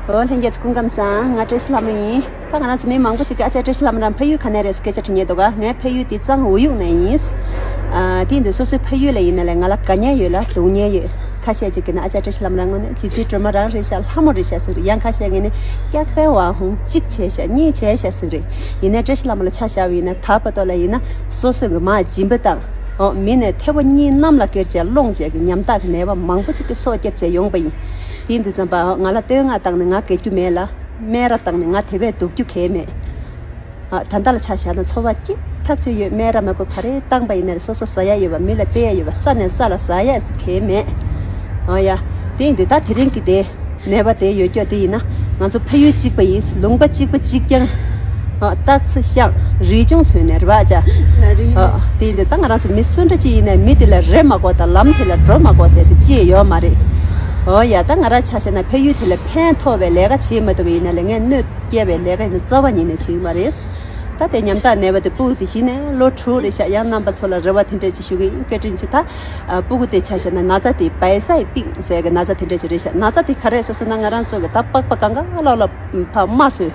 ཨོ་ལྷན་རྒྱལ་ཚུ་སྐུ་ཁམས་བཟང། ང་བཀྲ་ཤིས་ལྷ་མོ་ཡིན། ད་ང་རང་ཚོ་མི་མང་པོ་ཅིག་གིས་ཨ་ཅག་བཀྲ་ཤིས་ལྷ་མོ་རང་ཕ་ཡུལ་ག་ནས་རེད་སྐད་ཆ་དྲི་ཉེ་འདུག་ག་ངའི་ཕ་ཡུལ་དེ་གཙང་བོ་ཡུག་ནས་ཡིན། དེ་འདི་སོ་སོའི་ཕ་ཡུལ་ལ་ཡིན་ན་ལས་ང་ལ་དགའ་ཉེ་ཡོད་ལ་སྡུག་ཉེ་ཡོད། ཁ་ཤས་ཅིག་གིས་ན་ཨ་ཅག་བཀྲ་ཤིས་ལྷ་མོ་རང་ངོ་ནས་བྱིས་བརྩེའི་སྒྲོལ་མ་རང་རེད་ཤག་ལྷ་མོ་རེད་ཤག་ཟེར་རེད་ཡང་ཁ་ཤས་ངས་ནི་སྐྱག་པའི་བང་ཧུང་གཅིག་བྱས་ཤག་གཉིས་བྱས་ཤག་ཟེར་རེད་ཡིན་ནའི་བཀྲ་ཤིས་ལྷ་མོ་ལ་ཆ་བཞག་བ་ཡིན་ན་དྭགས་པ་ཏོ་ལ་ཡིན་ན་སོ་སོས་མགུ་མ་སྦྱིན་པ་དང། མི་ནས་ཐེ་བོ་གཉིས་གནམ་ལ་ཀེར་བྱས་སློང་བྱས་ཀྱི་ཉམ་ཐག་གི་ནད་པ་མང་པོ་ཅིག་གི་སོ་སྐྱབས་བྱས་ཡོང་པ་ཡིན། དེས་འདི་བརྩམས་པ། ང་ལ་བསྟོད་བསྔགས་བཏང་ནས་ང་དགེ་རྒྱུ་མེད་ལ། སྨད་ར་བཏང་ནས་ང་དེ་བས་སྡུག་རྒྱུ་གལ་མེད། ད་ལྟ་ལ་ཆ་བཞག་ན་འཚོ་བ་སྐྱིད་ཐག་ཆོད་ཡོད་སྨད་ར་མ་དགོས་ག་རེ་བཏང་པ་ཡིན་ན་རེད་སོ་སོ་ཟ་ཡ་ཡོད་པ་མི་ལ་བལྟས་ཡ་ཡོད་པ་ས་ནས་ས་ལ་ཟ་ཡ་གལ་མེད། ཨ་ཡ། དེས་འདི་ད་དེ་རིང་གི་དེ། ནད་པ་དེ་ཡོད་སྐྱོ་དེ་ཡིན་ན། ང་ཚོ་ཕ་ཡུལ་གཅིག་པ་ཡིན་ལུང་པ་གཅིག་པ་གཅིག་རྐྱང། སྟག་རྩེ་ཤང། རི་ཆུང་ཚོའི་ནས་རི་བ་བྱ། དེ་འདི་དང་ང་རང་ཚོ་མི་གསོན་འདྲ་ཅི་ཡིན་ནས་མི་དེ་ལ་རེ་མ་གོ་དང་ལམ་དེ་ལ་འགྲོ་མ་གོ་ཟེར་དེ་ཅི་ཡོད་མ་རེད། འོ་ཡ་ད་ང་རང་ཆ་ཤས་ན་ཕ་ཡུལ་དེ་ལ་ཕན་མཐོ་བའི་ལས་ཀ་བྱེད་མ་ཐུབ་པ་ཡིན་ན་ལས་ངན་གནོད་སྐྱེལ་བའི་ལས་ཀ་ཡིན་ན་རྩ་བ་ཉིད་ནས་བྱེད་ཀྱི་མ་རེད། ད་དེ་ཉམ་ཐག་ནས་བ་དེ་སྤུ་གུ་དེ་བྱིན་ནས་ལོ་དྲུག་རེ་བཞག་ཡང་རྣམ་པ་ཚོ་ལ་རེ་བ་དེ་འདྲ་ཅི་ཞུ་གི་ཡིན་སྐད་དྲིན་ཅི་ད། སྤུ་གུ་དེ་ཆ་ཤས་ན་ན་ཚ་དེ་བའི་ས་ཡི་པིང་ཟེར་གི་ན་ཚ་དེ་འདྲ་ཅི་རེད་བཞག་ན་ཚ་དེ་ག་རེད་ཟེར་སོང་ན་ང་རང་ཚོ་གི་ད་པགས་པ་གང་ག་ལ་ལ་ཕ་མ་སོས།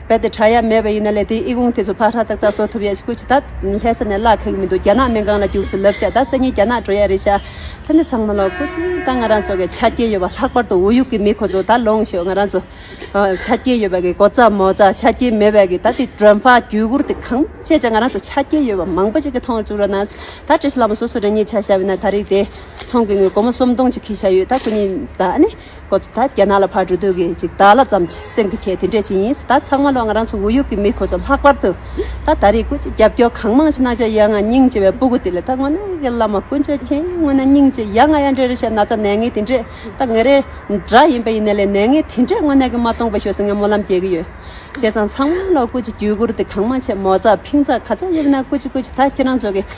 རྦད་དེ་གྲ་ཡ་མེད་པ་ཡིན་ན་ལས་དེའི་ཨི་གུང་དེ་ཚོ་ཕར་ཧྲ་ཏག་ཏག་བཟོ་ཐུབ་ཡ་ཞིག་ཁུ་ཆི་ད་ལྷས་ས་ནས་བརླག་ཁག་མི་འདུག་རྒྱ་ནག་སྨན་ཁང་ལ་རྒྱུགས་སུ་ལབ་ཤག་ད་ས་ཉིན་རྒྱ་ནག་འགྲོ་ཡ་རེད་ཤག་ད་ནི་ཚང་མ་ལོག་ཁུ་ཆི་ད་ང་རང་ཚོ་གི་ཆ་རྐྱེན་ཡོད་པ་ལྷག་པར་དུ་འུ་ཡུག་གི་མི་ཁོ་ཚོ་ད་ལོངས་ཤོག་ང་རང་ཚོ་ཆ་རྐྱེན་ཡོད་པ་གི་གོ་ཙ་མོ་ཙ་ཆ་རྐྱེན་མེད་པ་གི་ད་དེ་དྲོན་ཕག་རྒྱུད་གུར་དེ་གང་བྱས་ཀྱང་ང་རང་ཚོ་ཆ་རྐྱེན་ཡོད་པ་མང་པོ་ཅིག་གི་ཐོང་བཅུག་ར་ན་ད་བཀྲ་ཤིས་ལགས་མོ་སོ་སོ་རེ་གཉིས་ཆ་བཞག་བས་ན་ད་རིགས་དེ་ཚོང་གི་ངོས་སྒོར་མོ་སོམ་སྟོང་ཅིག་ཁུ་ཤ་ཡོད་ད་ཁུ་གཉིས་ད་ནི། ཁོ་ཚོ་ད་རྒྱ་ནག་ལ་ཕར་འགྲོ་འདོད་གི་ཅིག་བདག་ལ་བརྩམས་ཅིག་སེམས་ཀྱི་ཁྱད་དེ་འདྲས་ཅིག་ཡིན་སྲིད་ད་ཚང་མ་ལོ་ང་རང་ཚོ་འུ་ཡུག་གི་མི་ཁོ་ཚོ་ལྷག་པར་དུ་ད་ད་རེས་སྐུ་ཅིག་རྒྱབ་སྐྱོར་གང་མང་བྱེད་ན་ཅི་ཡ་ང་སྙིང་རྗེ་བའི་སྤུ་གུ་དེ་ལས་ད་དངོས་གནས་ཀྱི་བླ་མ་དཀོན་མཆོག་མཁྱེན་ཡ་དངོས་ན་སྙིང་རྗེ་ཡ་ང་ཡ་འདྲེ་རེ་ཤ་ན་ཚ་ནད་ངན་དེ་འདྲས་ད་ངེད་རེ་འདྲ་ཡིན་པ་ཡིན་ན་ལས་ནད་ངན་དེ་འདྲས་དངོས་གནས་ཀྱི་མ་གཏོང་པ་ཞོ་སི་ངས་སྨོན་ལམ་རྒྱས་ཀྱི་ཡོད་བྱས་ཙང་ཚང་མ་ལ་སྐུ་ཅིག་རྒྱུད་བསྐུར་དེ་གང་མང་བྱས་མོ་ཚ་ཕིང་ཚ་ག་ཚ་ཡོད་ན་སྐུ་ཅིག་སྐུ་ཅིག་ད་ཁྱེད་རང་ཚོ་གི།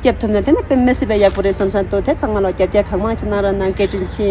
བསྐྱབ་ཐུབ་ན་དེ་ནི་དཔེ་མི་སྲིད་པའི་ཡག་པོ་རེད་བསམ་བསམ་འདུག་དེ་ཚང་མ་ལ་བསྐྱར་བསྐྱར་གང་མང་ཞིག་གནང་རོགས་གནང་སྐད་དྲིན་ཆེ།